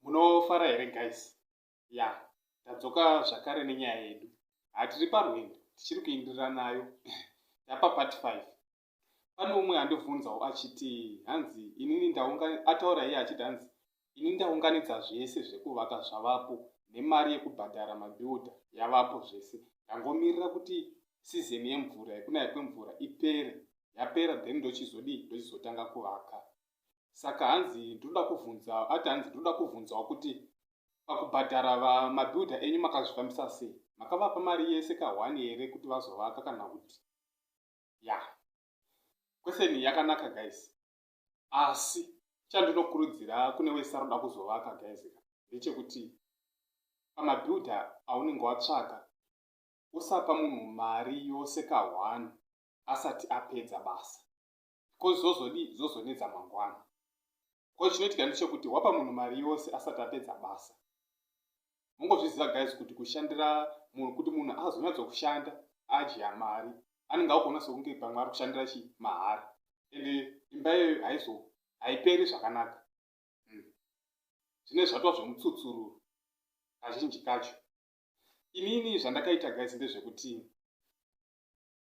munofara here guys ya tadzoka zvakare nenyaya yedu hatiri parwendo tichiri kuindirira nayo tapa part 5 pane umwe andibvunzawo achiti hanzi inini ataura iye achiti hanzi ini ndaunganidza zvese zvekuvaka zvavapo nemari yekubhadhara mabiuda yavapo zvese ndangomirira kuti sizeni yemvura yekunaya kwemvura ipere yapera then ndochizodii ndochizotanga kuvaka saka hanzi ndinoda kuvhunza ati hanzi ndinoda kuvhunzawo kuti pakubhadhara vamabuilder enyu makazvifambisa sei makavapa mari yese kahwani here kuti vazovaka kana kuti ya kweseni yakanaka guys asi chandinokurudzira kune wese aroda kuzovaka guys ndechekuti pamabuilder aunenge watsvaka usapa munhu mari yose kahwani asati apedza basa ko zvozodii zvozonetsa mangwana ko chinoitika ndechekuti wapa munhu mari yose asati apedza basa mungozviziva guys kuti kushandira munhu kuti munhu azonyatsokushanda adya mari anenge akuona sokunge pamwe ari kushandira chi mahara and imba iyoyo haizo haiperi zvakanaka hmm. zvine zvatwa zvemutsutsuru kazhinji kacho inini zvandakaita guys ndezvekuti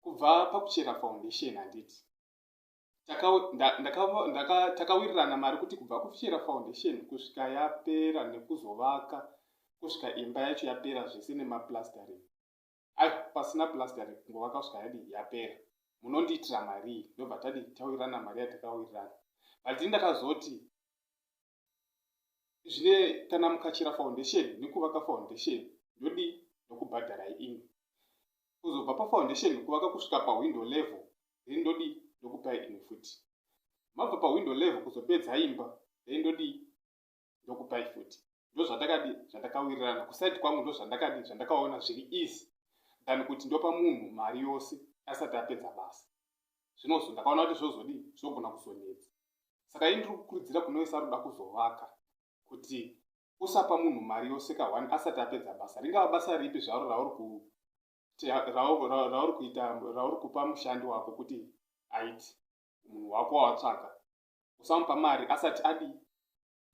kubva pakuchera foundation handiti takawirirana mari kuti kubva kuchera foundation kusvika yapera nekuzovaka kusvika imba yacho yapera zvese nemaplastering ai pasina plastering kungovaka kusvika yadi yapera munondiitira marii ndobva tadi tawirirana mari yatakawirirana but ndakazoti zvine kana mukachera foundation nekuvaka foundation ndodii ndokubhadharai imi kuzobva pafoundation kuvaka kusvika pawindow level then ndodii ndokupai imi futi mabva pawindow level kuzopedza imba then ndodii ndokupai futi ndozvatakadi zvatakawirirana kusaidi kwangu ndozvandakadi zvandakaona zviri easy than kuti ndopa munhu mari yose asati apedza basa zvinozo ndakaona kuti zvozodii zvogona kuzonetsa saka ini ndiri kukurudzira kune wese aroda kuzovaka kuti usapa munhu mari yoseka one asati apedza basa ringava basa ripi zvaro rauri rauri kuita rauri kupa mushandi wako kuti aiti munhu wako wawatsvaka usamupa mari asati adii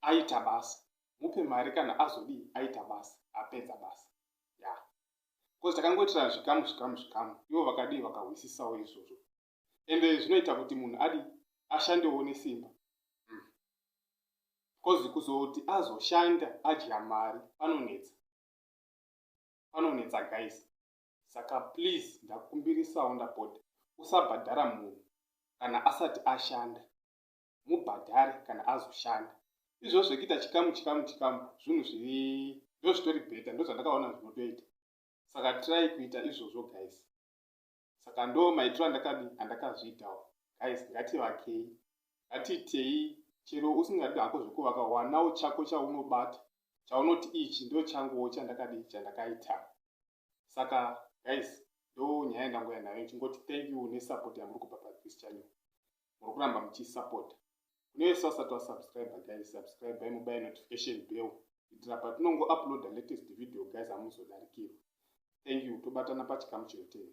aita basa mupe mari kana azodii aita basa apedza basa ya bcause takangoitirana zvikamu zvikamu zvikamu ivo vakadii vakahwisisawo izvozvo ende zvinoita kuti munhu adi ashandewo nesimba bcause hmm. kuzoti azoshanda adya mari panonetsa panonetsa guys saka please ndakumbirisawo ndapota usabhadhara munhu kana asati ashanda mubhadhare kana azoshanda izvozvo zvekuita chikamu chikamu chikamu zvinhu zviri ndozvitori beta ndozvandakaona zvinotoita saka try kuita izvozvo guys saka ndo maitiro andakadi andakazviitawo guys ngativakei ngatiitei chero usingadi hako zvekuvaka wanawo chako chaunobata chaunoti ichi ndo changuwo chandakadi chandakaita saka guys ndo nyaya yandangouya nayo ichingoti thank you nesupport yamuri kupa pathis channel muri kuramba muchisupporta kune vese vasati vasubscribe guys subscribe imubaye notification bell kuitira patinongo uploada latest video guys hamuzodarikirwa thank you tobatana pachikamu chinoteera